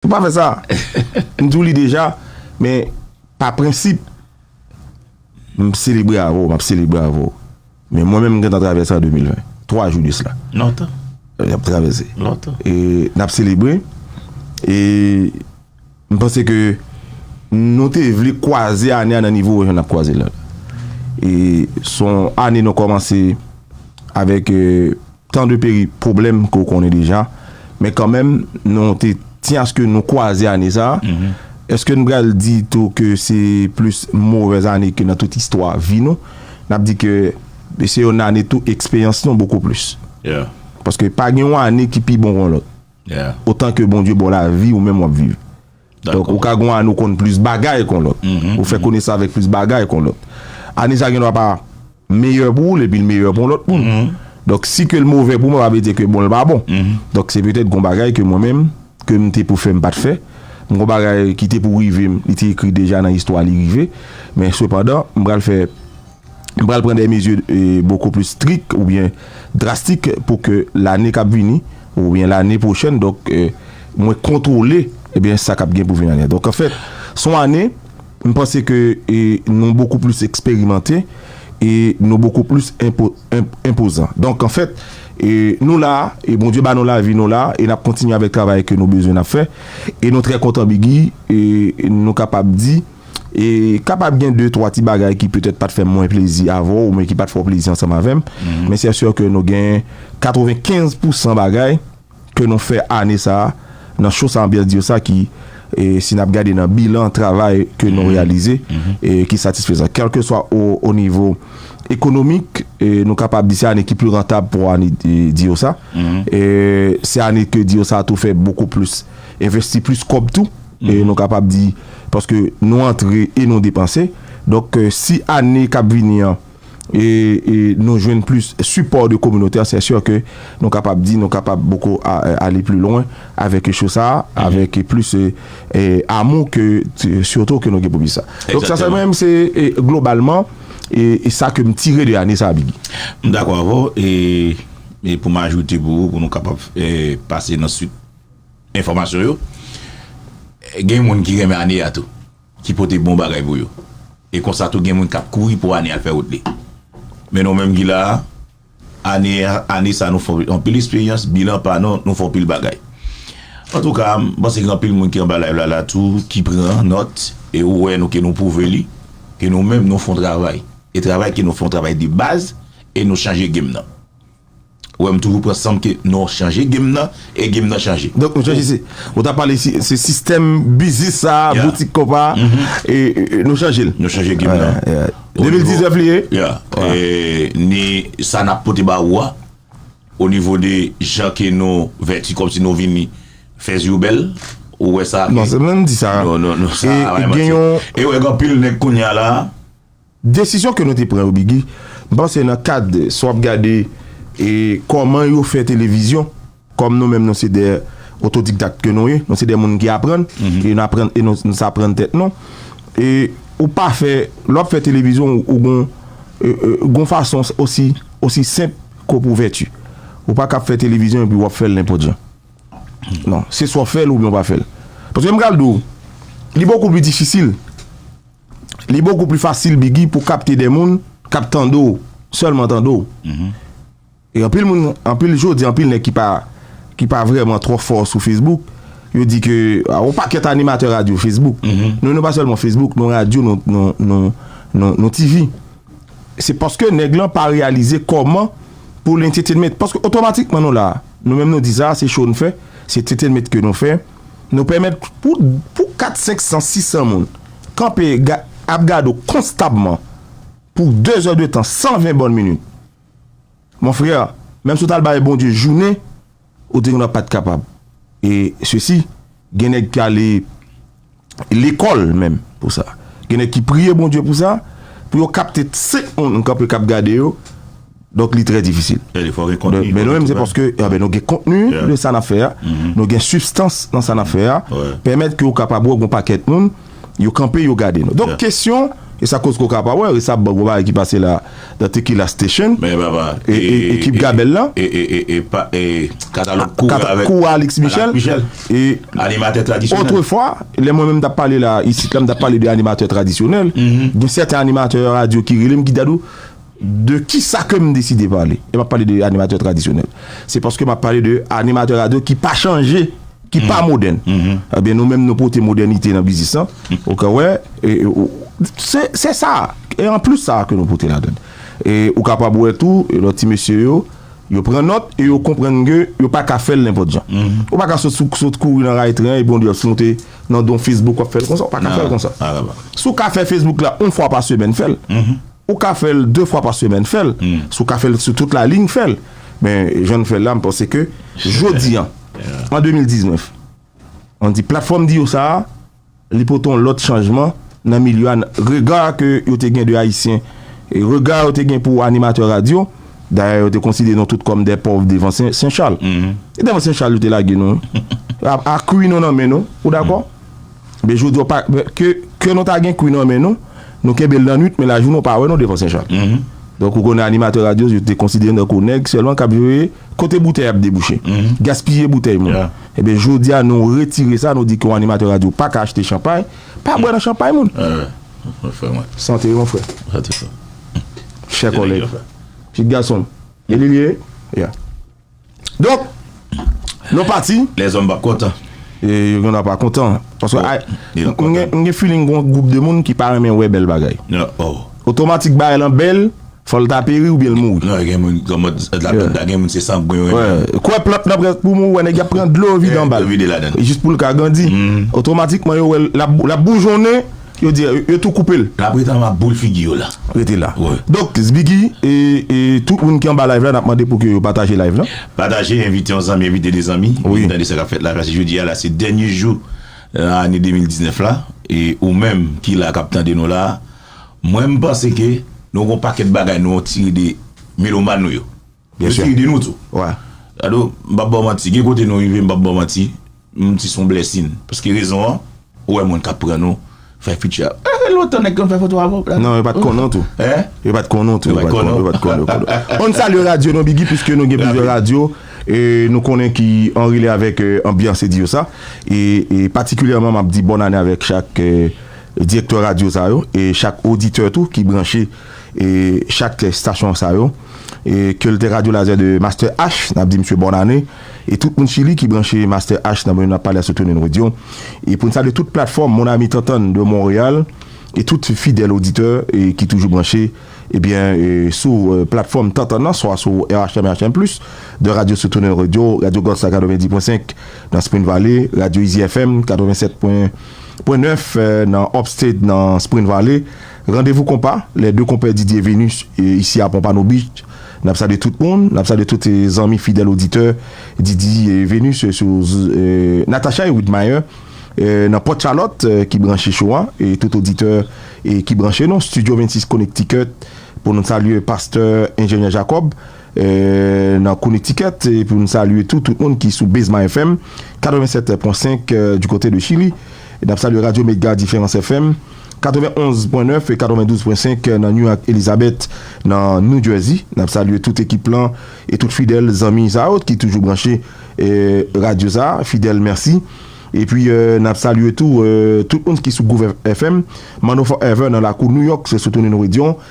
Ou pa fè sa. M di w li deja, men pa prensip m selebre avè w, m ap selebre avè w. Men mwen menm m gentan travèse an 2020, 3 jou de sla. Lontan. N ap travèse. Lontan. E n ap selebre, e m panse ke nou te vle kwaze ane a nan nivo jan n ap kwaze l la. E son ane nou kòmanse avèk. Tan de peri pwoblèm ke w konnen deja, men kanmenm nou te tyen aske nou kwaze ane sa, eske n pral di tou ke se plis movèz ane ke nan tout istwa vi nou? N ap di ke se yon ane tou eksperyans nou bokou plis. Paske pa gen yon ane ki pi bon ke yon lòt. Otan ke Bondye ba w lavi ou menm w ap viv. Donk, ou ka gen yon ane ou konn plis bagay kon lòt. Ou fè konesans avèk plis bagay kon lòt. Ane sa gen dwa pa meyè pou ou l epi l meyè pou yon lòt moun. Donk, si ke l movè pou mwen pa vle di ke bon l pa bon. Donk, se petèt gen yon bagay ke mwen menm, ke m te pou fè m pa t fè. Gen yon bagay ki te pou rive m, li te ekri deja nan istwa li rive. Men sepandan, m pral fè. Nou pral pran de mezi boko plis strik oubyen drastik pou ke lane kap vini oubyen lane pwochèn donk mwen kontwole ebyen sa kap gen pou vini anyen. Donk anfèt son ane m panse ke nou boko plis eksperimante e nou boko plis enpozan. Donk anfèt nou la e Bondye ba nou lavi nou la e nap kontinye avèk travay ke nou bezwen nap fè e nou trè kontan bgy nou kapab di. E kapab gen de twa ti bagay ki petèt pa t fè mwen plezi avè w oubyen ki pa t fè w plezi ansanm avè m. Men sè sè ke nou gen katrevenkenz pousan bagay ke nou fè ane sa a nan Cho sa Anbyans Diyo sa ki, si n ap gade nan bilan travay ke nou reyalize, ki satisfezan. Kèlkeswa o nivo ekonomik, nou kapab di se ane ki pli rantab pou ane Diyo sa. Se ane ke Diyo sa a tou fè bokou plis, envesti plis kòb tou. E nou kapab di. paske nou antre e nou depanse donk si ane kap vini an nou jwenn plis sipò de kominote an sè sè ke nou kapab di nou kapab poko ale pli lwen avèk cho sa avèk plis amou ke sitou ke nou gen pou plis sa donk sa mwen menm se globalman e sa ke m tire de ane sa Biggy. M dakò avèw e pou m ajoute pou ou pou nou kapab pase nan suit. Enfòmasyon yo Gen moun ki renmen ane a tou ki pote bon bagay pou yo e konsa tou gen moun kap kouri pou ane al fè wout li men nou menm ki la a ane a ane sa nou fè anpil esperyans bilan pa nou nou fè anpil bagay antouka m panse gen anpil moun ki anba layv la la tou ki pran nòt e ou wè nou ke nou pwouve li ke nou menm nou fè yon travay e travay ke nou fè yon travay de baz e nou chanje game nan. Ou wèm toujou pran sanm ke non chanje game nan e game nan chanje. Donk Mesye JC, ou ta pale se sistèm biznis sa, boutik konpa nou chanje l. Nou chanje game nan. 2019 li ye. Ni sa nap pote ba ou a, o nivo de jan ke nou vèti kòm si nou vini fè zi ou bèl, ou wè sa. Non se menm di sa. Non non non sa. E gen yon. E ou wè gen anpil nèg kounya la. Desizyon ke nou te pran yo Biggy, m panse nan kad si w ap gade e kòman yo fè televizyon, kòm nou menm nou se 2 otodikdak ke nou ye, nou se 2 moun ki aprann, e n aprann e nou saprann tèt nou, e ou pa fè, lè w ap fè televizyon ou gon gon fason osi osi senp ke w ap ouvèti. Ou pa ka fè televizyon epi w ap fè l nenpòt jan. Non, se swa w fè l oubyen ou pa fè l. Paske m pral di w, li bokou pli difisil. Li bokou pli fasil biggy pou kapte de moun kap tande w selman tande w e anpil moun anpil jodi anpil nèg ki pa ki pa vreman tro fò sou facebook yo di ke a on pakèt animatè radyo facebook nou nou pa selman facebook nou radyo nou nou nou nou nou TV se paske nèg lan pa reyalize koman pou l entetenment paske otomatikman nou la nou menm nou di sa se show nou fè se entetenment ke nou fè. Nou pèmèt pou pou 4, 5, 100, 600 moun kanpe ga ap gade w konstabman pou 2 zè de tan, 120 bòn minit. Mon frè, menm si w t al bay Bondye jounen, ou te genwa pat kapab. E sesi, gen nèg ki ale lekòl menm pou sa. Gen nèg ki priye Bondye pou sa, pou yo kapte 5 moun kanpe k ap gade yo. Donk li trè difisil. Men nou menm se paske nou gen kontni de sa n ap fè a, nou gen sibstans nan sa n ap fè a, pèmèt ke ou kapab wè gen yon pakèt moun, yo kanpe yo gade nou. Donk kesyon, e sa koz ke w ka pa wè resab gen yon bagay ki pase la nan Tequila Station, ekip Gabèl la, katalòg kou a Alix Michel, otrefwa, lè mwen menm m t ap pale la isit la, m t ap pale de animatè tradisyonèl, gen sèten animatè radyo ki rele m ki di Dadou, De kisa ke m deside pale, e m ap pale de animatè tradisyonèl, se paske m ap pale de animatè radyo ki pa chanje, ki pa modèn. Ebyen nou menm nou pote modènite nan biznis lan. Ou ka wè, se sa, e an plis sa ke nou pote ladan l. E ou kapab wè tou, lòt ti mesye yo, yo pran nòt e yo konprann ke yo pa ka fè l nenpòt jan. Ou pa ka sot kouri nan ray tren epi on di w ap monte nan don Facebook w ap fè l konsa. Ou pa ka fè l konsa. Si w ka fè Facebook la yon fwa pa semèn, fè l. Ou ka fè l 2 fwa pa semèn fè l, si w ka fè l sou tout la ligne fè l, men jan n fè l la m panse ke jodi an an 2019 an di platfòm di yo sa a li pote yon lòt chanjman nan milye a nan rega ke yo te gen de ayisyen e rega yo te gen pou animatè radyo dayè yo te konsidere nou tout kòm dè pòv devan sen chal e devan sen chal yo te lage nou a kwi nou nan men nou ou dakò? Men jodi a, ke nou ta gen kwi nan men nou, nou kenbe l nan nwit, men lajounen ou pa wè nou devan Senchal. Donk ou konnen animatè radyo yo te konsidere nou tankou nèg sèlman k ap veye kote boutèy ap debouche, gaspiye boutèy moun. Enben jodi a nou retire sa, nou di ke yon animatè radyo pa ka achte chanpay, pa bwè nan chanpay moun. Sante mon frè. Chè kòlèg. Pitit gason m. Eli l ye? Ya. Donk, nou pati. Lèzòm pap kontan. E yo gen dwa pa kontan. Paske a, m gen feeling gen yon gwoup de moun ki pa renmen wè bèl bagay. Otomatik bagay lan bèl, fò l ta peri oubyen l mouri. Non, gen moun gen mòd la plant la, gen moun se sangwen yo renmen. Wè, kwè plant lan prèske pou mouri, wè nèg y ap pran dlo vide anba l. Vide ladan l. Jis pou l ka grandi. Otomatikman yo wè l, l ap boujonnen. Yo di yo tou koupe l. La preeta map boule figi yo la. Rete la. Donk zbiggy e tout moun ki anba live la nap mande pou ke yo pataje live lan. Pataje envite yon zanmi envite 2 zanmi vin tande sa kap fèt la paske jodi a la se dènye jou nan ane 2019 la e ou menm ki la kap tande nou la mwen m panse ke nou gon pakèt bagay nou tire de melomàn nou yo. Yo te ede nou tou. Dadou, m pap ba w manti, gen kote nou rive m pap ba w manti, m di se yon blèsin. Paske rezon an, ou wè moun k ap pran nou, fè fiti a. Sa fè lontan nèg te konn fè foto avè w Dadou. Non, yo pa t konnen w tou. Hein? Yo pa t konnen w tou. Yo pa t konnen w. Yo pa t konnen w. Bon, n salye radyo nou Biggi, piske nou gen plizyè radyo nou konnen ki anrele avèk anbyans Eddy Yosa. E patikilyèman m ap di bòn ane avèk chak direktè radyo sa yo e chak oditè tou ki branche. chak stasyon sa yo ke l te radyo lazè de Master H n ap di misye bòn ane e tout moun chili ki branche Master H nan mwen ap pale a sou Tunin Radio e pou n salye tout platfòm Mon Ami Tantann de Monreyal e tout fidèl oditè ki toujou branche ebyen sou platfòm Tantann nan swa sou RHM et RHM plus 2 radyo sou Tunin Radio Radyo Gòs la 90 pwen 5 nan Spring Valley Radyo Izi FM 87 pwen 9 nan Upstate nan Spring Valley. Randevou konpa, lè 2 konpè Didier Venus isi a Pompano Beach. N ap salye tout moun, n ap salye tout zanmi fidèl oditè Didier Venus sou Natacha et Widmire nan Port Charlotte ki branche show a e tout oditè ki branche nou Studio 26 Connecticut pou nou salye Pastè Enjenyè Jacob. Nan Connecticut epi nou salye tou tout moun ki sou Bezma FM 87 pwen 5 du côté de Chili nap salye Radio Mega Diferans FM 91 pwen 9 e 92 pwen 5 nan New ak Elizabeth nan New Jersey nap salye tout ekip lan e tout fidèl zanmi sa yo ki toujou branche radio sa fidèl mèsi epi nap salye tou tout moun ki sou Groove FM Manno Forever nan lakou New York se sou Tony Nouredyon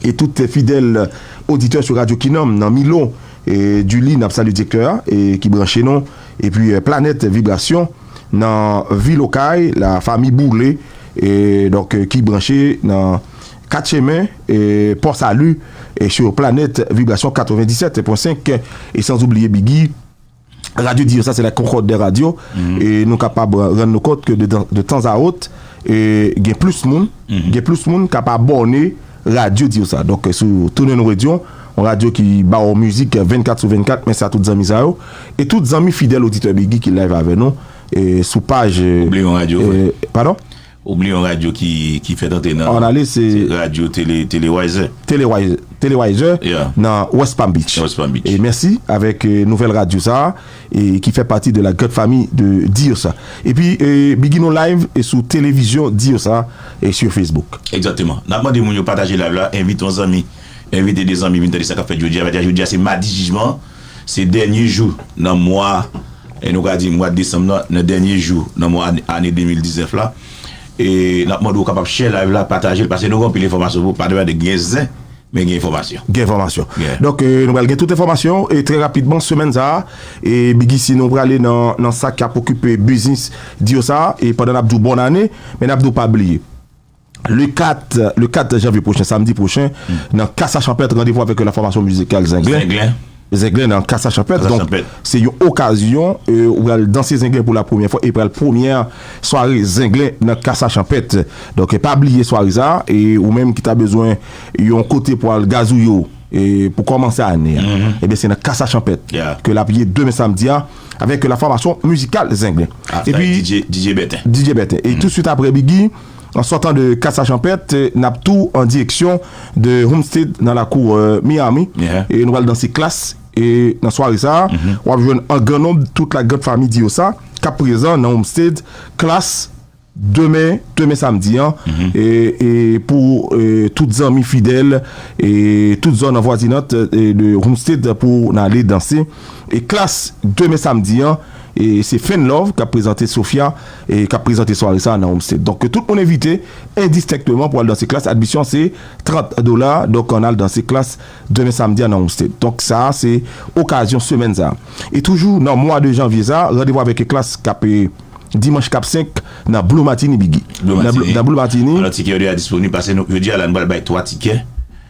E tout fidèl oditè sou radyo kinòm nan Milo e Duli nap salye direktè a e ki branche nou epi planèt vibrasyon nan vil okay la fami boule e donk ki branche nan 4 chemen e pò salu e sur planèt vibrasyon 97 pwen 5 e sanzoubliye biggy. Radyo di yo sa se la Concorde des radios e nou kapab rann nou kont ke de tan a ot gen plis moun gen plis moun kap abòne radyo di yo sa. Donk sou tounen nou redyon yon radyo ki ba ou mizik 24 sou 24 mèsi a tout zanmi sa yo e tout zanmi fidèl oditè Biggi ki live avè nou sou paj Ou bliye yon radyo vre? Padon? Ou bliye yon radyo ki fèt antre nan. An ale se. Radyo Telewaiser. Telewaiser. Ya. Nan West Palm Beach. West Palm Beach. E mèsi avèk nouvèl radyo sa a e ki fè pati de la grand fami de Dios a. E pi bgy nou live e sou televizyon Dios a e sur Facebook. Egzakteman. Nap mande moun yo pataje live la, envite yon zanmi, envite 2 zanmi vin tande sa kap fèt jodi a. Jodi a se madi jijman an. Se dènye jou nan mwa, nou ka di mwad desanm nan, nan dènye jou nan mwa ane 2019 la. E nap mande ou kapab share live la, pataje l, pase nou gen anpil enfòmasyon pou, pa de pale gen zen, men gen enfòmasyon. Gen enfòmasyon. Donk nou pral gen tout enfòmasyon e trè rapidman semèn sa a. E BigIci nou prale nan sa kap okipe biznis diyo sa a. E pandan nap di w bòn ane, men nap di w pa bliye. Le 4 le 4 janvye pwochen, samdi pwochen, nan Casa Champêtre, randevou avèk la fòmasyon mizikal Zenglen. Zenglen. Zenglen nan Casa Champêtre. Casa Champêtre. Donk, se yon okazyon ou pral danse Zenglen pou la premyè fwa e pral premyè sware Zenglen nan Casa Champêtre. Donk, pa bliye sware sa a e ou menm ki ta bezwen yon kote pou al gazouye w e pou kòmanse ane a, ebyen se nan Casa Champêtre Ya. ke l ap ye demen samdi a avèk la fòmasyon mizikal Zenglen. Avèk DJ Bèten. DJ Bèten. E touswit apre, Biggi. An sòtan de Casa Champèt, n ap tou an direksyon de Homestead nan lakou Miami e nou pral danse Klass e nan sware sa a, w ap jwenn an gran nonb tout la grand famille Diosa k ap prezan nan Homestead Klass demen demen samdi an e pou tout zanmi fidèl e tout zòn anvwazinant de Homestead pou n ale danse Klass demen samdi an. E se Fenlove kap prezante Sofia e kap prezante sware sa nan Homestay. Donk ke tout moun envite endistenkteman pou al danse klass. Admisyon se 30 dola. Donk ann al danse klass demen samdi a nan Homestay. Donk sa a se okazyon semèn sa a. E toujou nan mwa de janvye sa a, randevou avèk klass kap dimanch kap 5 nan Blue Martini Biggy. Nan Blue Martini. Alò tikè yo deja disponib. Pase nou. Jodi a la nou pral bay 3 tikè.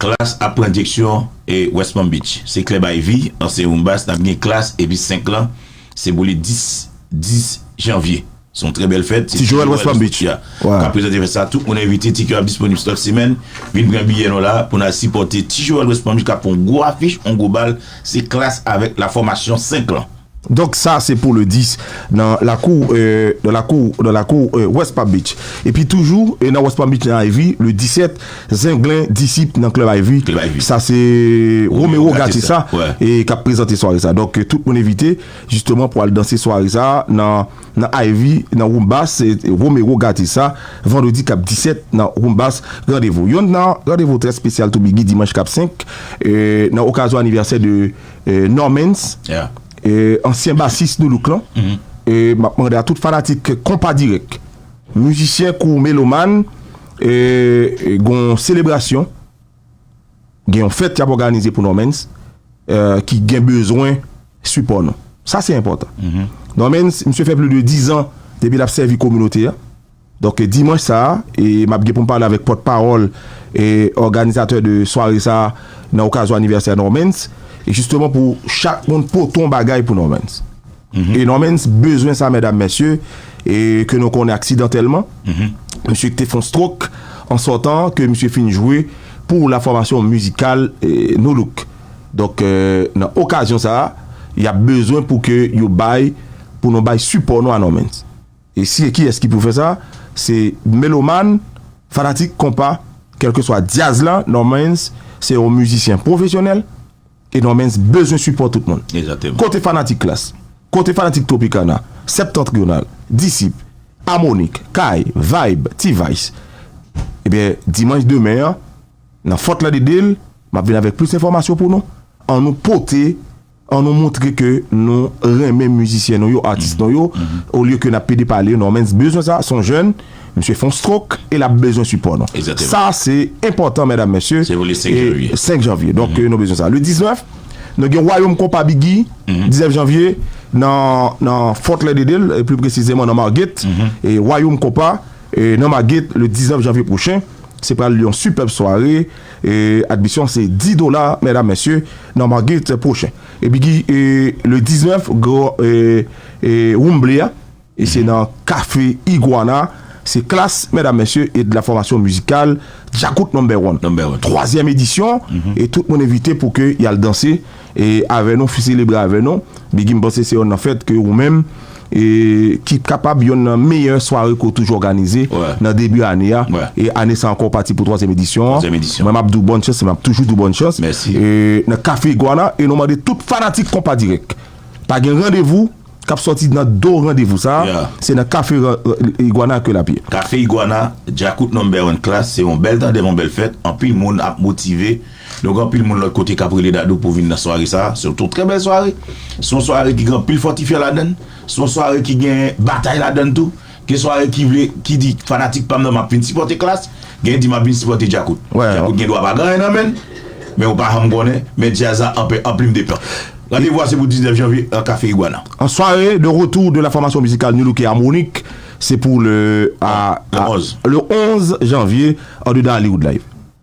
Klass ap pran dyeksyon West Palm Beach. Se klèb Ivy, ansyen Rumbas, nap gen Klass epi 5 lan se pou li 10 10 janvye. Se yon trè bèl fèt. Se Ti Joel West Palm Beach kap prezante fèt sa. Tout moun envite, tikè yo ap disponib sou Taxi Man. Vin pran biyè nou la pou nou al sipòte Ti Joel West Palm Beach kap fè yon gwo afiche, yon gwo bal. Se Klass avèk la fòmasyon 5 lan. Donk sa se pou le 10 nan lakou nan lakou nan lakou West Palm Beach. Epi toujou nan West Palm Beach nan Ivy le 17 Zenglen Disip nan Club Ivy sa se Romero Gate sa ki ap prezante sware sa. Donk tout moun envite jisteman pou al danse sware sa nan Ivy nan Roumbas se Romero Gate sa vandredi k ap 17 nan Roumbas randevou. Yon nan randevou trè spesyal tou bgy dimanch k ap 5 nan okazyon anivèsè de Normens ansyen basis Nu Look lan map mande a tout fanatik konpa dirèk mizisyen kou melomàn gon yon selebrasyon gen yon fèt yap òganize pou Normens ki gen bezwen sipò nou sa se enpòtan Normens misye fè pli de 10 an depi lap sèvi kominote a. Donk dimanch sa a, map gen pou m pale avèk pòt pawòl òganizatè de sware sa a nan okazyon anivèsè Normans, jisteman pou chak moun pote yon bagay pou Normans. E Normans bezwen sa mèdam mèsye, ke nou konnen aksidantèlman, msye ki te fon strok an sòtan ke msye fin jwe pou la fòmasyon mizikal Nu Look. Donk nan okazyon sa a, yap bezwen pou ke yo bay, pou nou bay sipò nou a Normans. E si e kiyès ki pou fè sa? Se melomàn, fanatik konpa, kèlkeswa dyaz lan, Normans se yon mizisyen pwofesyonèl e Normans bezwen sipò tout moun. Kote fanatik Klass? Kote fanatik Tropicana, Septentrional, Disip, Amonik, Kay, Vayb, T-Vice? Ebyen, dimanch demen an, nan Fort Lauderdale, m ap vin avèk plis enfòmasyon pou nou. An nou pote. An nou moutre ke nou renmen mizisyen nou yo, atis nou yo, olye ke n ap pede pale yo. Normans bezwen sa, se yon jèn, misye fè yon strok e l ap bezwen sipò nou. Sa se enpòtan medam mesye. Se pou le 5 janvye. 5 janvye, donk nou bezwen sa. Le 19, nou gen Wayom Konpa Biggy, 19 janvye, nan Fort Lauderdale, pli presizeman nan Margate, Wayom Konpa, nan Margate, le 19 janvye pwochen. Se pral yon sipèb sware. Admisyon an se 10 dola medam mesye nan Margate pwochen. E bgy le 19 gwo woumble a e se nan kafe Iguana. Se klas medam mesye e de la fòmasyon mizikal Djakout number one. Twazyèm edisyon e tout moun envite pou ke yal danse. E avè nou fi selebre avè nou bigi m panse se yon nan fèt ke ou menm e ki kapab yon nan meyè sware ke w toujou òganize nan debi ane a e ane sa ankò w pati pou twazyèm edisyon an mwen m ap di w bòn chans e m ap toujou di w bòn chans e nan kafe iguana e nou mande tout fanatik konpa dirèk pa gen randevou. K ap sòti nan do randevou sa a, se nan Kafe Iguana ke l ap ye. Kafe Iguana, Djakout Number One Klass, se yon bèl tandem, yon bèl fèt. Anpil moun ap motive. Donk anpil moun lòt kote k ap rele Dadou pou vin nan sware sa a. Se yon trè bèl sware. Se yon sware ki gen anpil fòtifyan ladan l. Se yon sware ki gen batay ladan l tou. Gen sware ki vle ki di fanatik pam nan map vin sipòte klass, gen di map vin sipòte djakout. Djakout gen dwa pa gen anyen nan menn, men ou pa janm konnen, men djaz la anpe anplim depan. Randevou a se pou 19 janvye nan Café Iguana. En soirée de retour de la formation musicale Nu Look et Harmonik, se pou le a le 11 janvye andedan Hollywood Live.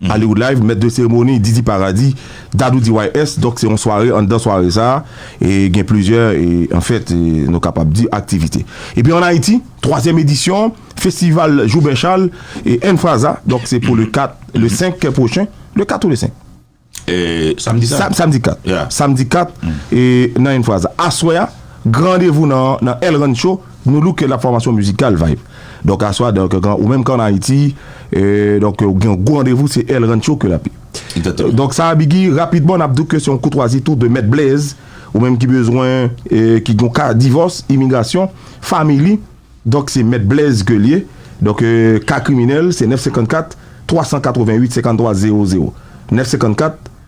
Hollywood Live, Mèt de seremoni, Didi Paradis, Dadou DYS, donk se yon sware, anndan sware sa a, gen plizyè, an fèt, nou kapab di, aktivite. Epi ann Ayiti, twazyèm edisyon, Festival Joubert Charles, N. Fraza, donk se pou le 4, le 5 pwochen, le 4 ou le 5? Samdi 4. Samdi 4. Samdi 4, nan N. Fraza. Aswè a, gran randevou nan El Rancho. Nou louke nan fòmasyon mizikal Vibe. Donk aswa donk ou menm k'an Ayiti donk ou gen yon gwo randevou se El Rancho ke l'AP. Egzakteman. Donk sa a Biggy, rapidman n'ap di w ke se yon koutwazi tou de Mèt Blaze, ou menm ki bezwen ki gen yon ka divòs, imigrasyon, family, donk se Mèt Blaze ke l ye. Donk ka kriminèl se 954 388 53 00. 954.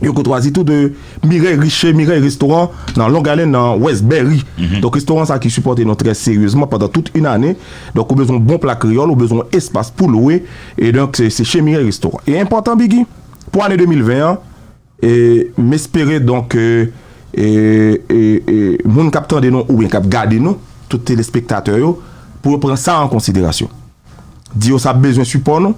Yo kotwazi tou de Mireille Richer, Mireille Restaurant, nan Long Island, nan Westbury. Donk restoran sa ki sipòte nou trè seryezman pandan tout yn ane. Donk ou bezwen yon bon pla kreyòl, ou bezwen yon espas pou lwe. E donk se che Mireille Restaurant. E enpòtan Biggy, pou ane 2020 an, e m espere donk ke e e e moun k ap tande nou oubyen k ap gade nou, tout telespektatè yo, pou yo pran sa an konsiderasyon. Di yo sa ap bezwen sipò nou.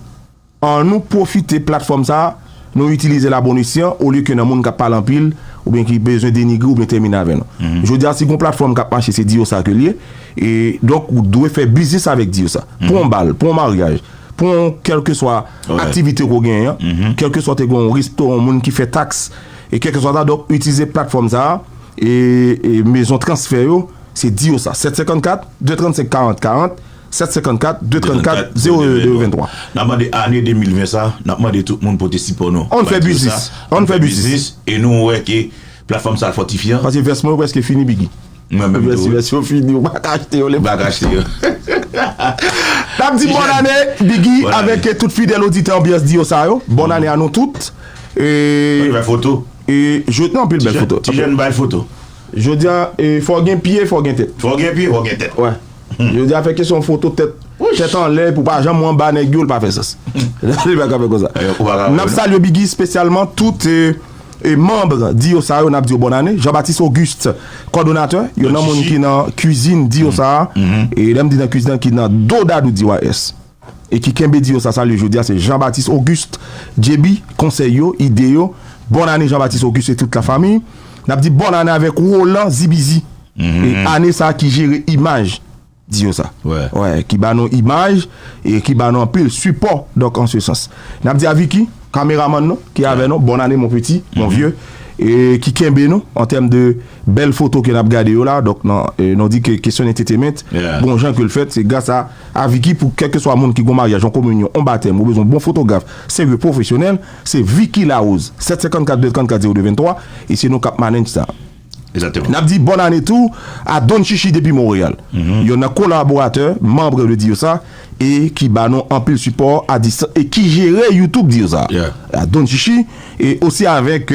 An nou pwofite platfòm sa a, nou itilize l a bon esyan olye ke nan moun k ap pale anpil oubyen ki bezwen denigre oubyen tèmine avè nou. Jodi a si gon platfòm k ap mache se Diyosa ke l ye, e donk ou dwe fè biznis avèk Diyosa. Pou yon bal, pou yon maryaj, pou yon kèlkeswa aktivite ke w genyen an, kèlkeswa w te gen yon resto, yon moun ki fè taks, e kèlkeswa sa, donk itilize platfòm sa a, e mezon transfè yo se Diyosa. 754, 235, 40, 40. 754 234 02 23. Nap mande ane 2020 sa, nap mande tout moun pote sipò nou. Ann fè biznis! Ann fè biznis! E nou wè ke platfòm sa fòtifye an. Pase vès mwen yo preske fini Biggy. Mwen menm tou wi. Vès yo fini ou pa ka achte yo. Ou pa ka achte yo. Nap di bòn ane Biggy avèk tout fidèl oditè Anbyans di yo sa yo. Bòn ane a nou tout. Anpil bèl foto. Nan anpil bèl foto. Ti jèn bèl foto. Jodi a fò gen pye fò gen tèt. Fò gen pye fò gen tèt. Yo deja fè kesyon foto tèt tèt anlè pou pa janm ou anba nèg yo li pa fè sans. Li pa ka fè konsa. N ap salye Biggy spesyalman tout manb Diyo sa yo n ap di yo bòn ane Jean Baptiste Auguste kòdonatè yon nan moun ki nan kuizin Diyo sa a e lè m di nan kuizin an ki nan do dadou DYS. E ki kenbe di yo sa salye jodi a se Jean Baptiste Auguste JB konsèy yo, ide yo, bòn ane Jean Baptiste Auguste et tout la famille Nap di bòn ane avèk Roland Zibizi e ane sa ki jere imaj di yo sa wè ki ba nou imaj e ki ba nou anpil sipò donk an se sans Nap di a Vicky kameramann nou ki avè nou bòn ane mon petit, mon vieux e ki kenbe nou an tèm de. Bèl foto ke nap gade yo la, donk nan nou di ke kesyon entetemint, bon jan ke l fèt, se gras a Vicky pou kèlkeswa moun ki gon maryaj, yon kominyon, yon batèm, ou bezwen yon bon fotograf, serye, pwofesyonèl, se Vicky Larose, 754 234 02 23, e se nou kap manenj sa. Nap di bòn ane tou a Don Chichi depi Monreyal, yonn nan kolaboratè, manbre de Diyosa, e ki ba nou anpil sipò a distans e ki jere YouTube Diyosa, Don Chichi, e osi avèk.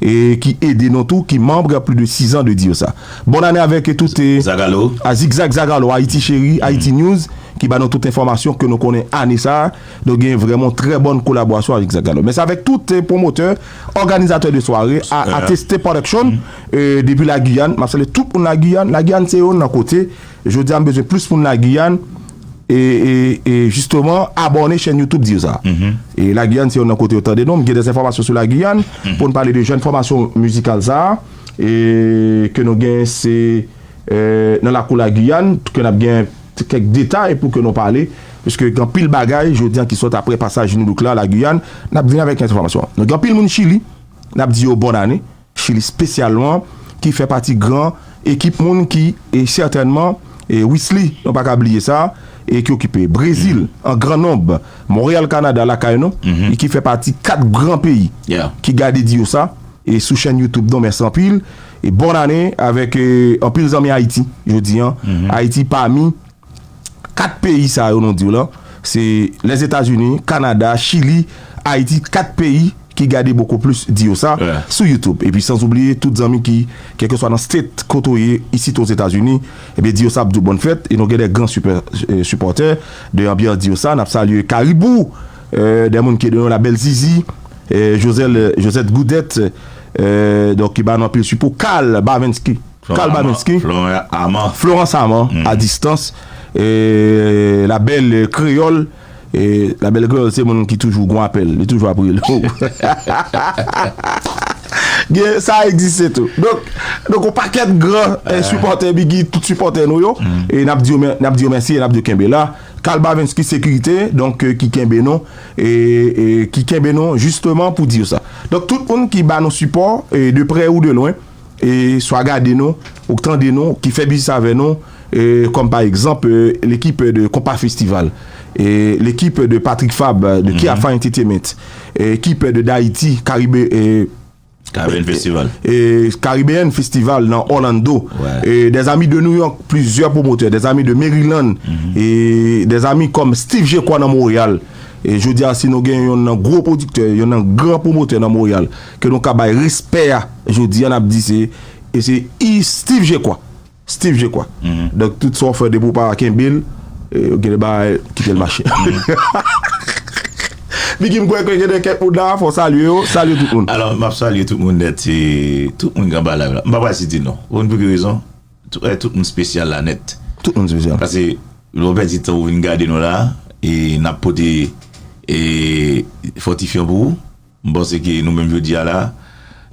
ki ede nou tou ki membre plus de 6 ans de dire sa bonne année avec tout zagalo a zigzag zagalo Haïti chérie Haïti news ki ba nou tout enfomasyon ke nou konnen ane sa nou gen vrèmon trè bonne kolaborasyon avec zagalo mès avec tout promotè organizatè de sware a ateste production depi la Guyane map salye tout moun la Guyane la Guyane se yon nan kote jodi a m bezwen plus moun la Guyane E e jisteman abòne chèn youtube di yo sa e la Guyane se yon nan kote yo tande nou m gen dè enfòmasyon sou la Guyane pou n pale de jèn fòmasyon mizikal sa e ke nou gen se nan lakou la Guyane ke n ap gen kèk detay pou ke nou pale piske gen anpil bagay jodi an ki sòt apre pasaj Nu-Look la la Guyane n ap vini avèk enfòmasyon nou gen anpil moun chili n ap di yo bòn ane. Chili spesyalman ki fè pati gran ekip moun ki e sètènman e Wisly nou pa ka bliye sa e ki okipe Brezil an gran nonb Montréal Canada lakay nou e ki fè pati 4 gran peyi ki gade di yo sa e sou chèn YouTube nou mèsi anpil e bòn ane avèk anpil zanmi Ayiti jodi an Ayiti pami 4 peyi sa yo nou diw lan se Lèzetazini, Kanada, Chili, Ayiti 4 peyi ki gade boko plis di yo sa sou YouTube epi sans oubliye tout zanmi ki kèlkeswa nan state kote w ye isit Ozetazini ebyen di yo sa ap diw bòn fèt e nou gen de gran sipòtè de anbyans di yo sa nap salye Karibou de moun ki la bèl Zizi Josette Goudette donk ki ba nou anpil sipo Carl Bavenski. Carl Babenski, Florence Armand, a distans, la belle Creole, la belle Creole se moun ki toujou gon apèl, li toujou ap rele w. Gen, sa egziste tou. Donk, donk yon pakèt gran sipòtè Biggy t sipòtè nou yo, e n ap di yo mè, n ap di yo mèsi e n ap di yo kenbe la. Carl Babenski Sekirite, donk, ki kenbe nou, e, e ki kenbe nou jisteman pou di yo sa. Donk, tout moun ki ba nou sipò, e de prè ou de lwen, swa gade nou, ou k tande nou, ki fè biznis avè nou, kòm pa egzanp lekip de Konpa Festival, lekip de Patrick Fab de Kiafah Entetements, ekip de Dayiti, Karibe. Karibean Festival. Karibean Festival nan Orlando, des amis de New York, plizyè pwomotè, des amis de Maryland, des amis kòm Steve Jekwa nan Montréal, jodi a si nou gen yonn nan gwo pwodiktè, yonn nan gran pwomotè nan Montréal. Ke nou ka bay respè a jodi an n ap di se e se i Steeve Jekwa Steeve Jekwa Donk tout sa w fè depi w pa kenbe l gen de bagay kite l mache Biggy m kwè ke gen de kèk moun la a fò w salye yo Salye tout moun Alò m ap salye tout moun nèt e tout moun k anba live la m pa pral site non ou konn pou ki rezon e tout moun spesyal la nèt Tout moun spesyal Pase lè w pèdi tan w vin gade nou la a e n ap pote e fòtifyan pou ou. M panse ke nou menm jodi a la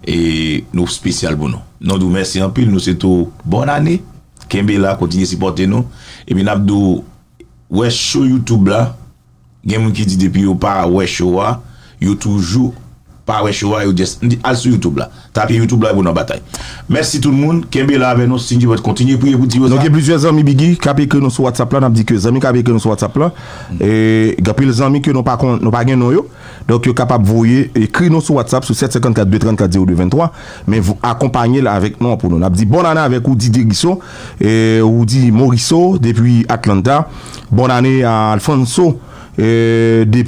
e nou spesyal pou nou. Nou di w mèsi anpil, nou swete w bòn ane, kenbe la kontinye sipòte nou, epi nap di w wè show youtube la, gen moun ki di depi yo pa wè show a, yo toujou pa wè show a, yo just, m di al sou youtube la, tape youtube la epi w nan batay. Mèsi tout moun, kenbe la avè nou, Cindy Bòt kontinye priye pou Ti Rosa. Nou gen plizyè zanmi Biggy kap ekri nou sou WhatsApp la, nap di ke zanmi kap ekri nou sou WhatsApp la, gen anpil zanmi ke nou pa gen non yo. Donk yo kapab voye, ekri nou sou WhatsApp sou 754 234 02 23, men akonpanye l avèk non an pou nou. N ap di bòn ane avèk Roudy Derisso, Roudy Morisseau depi Atlanta, bòn ane a Alfonso depi.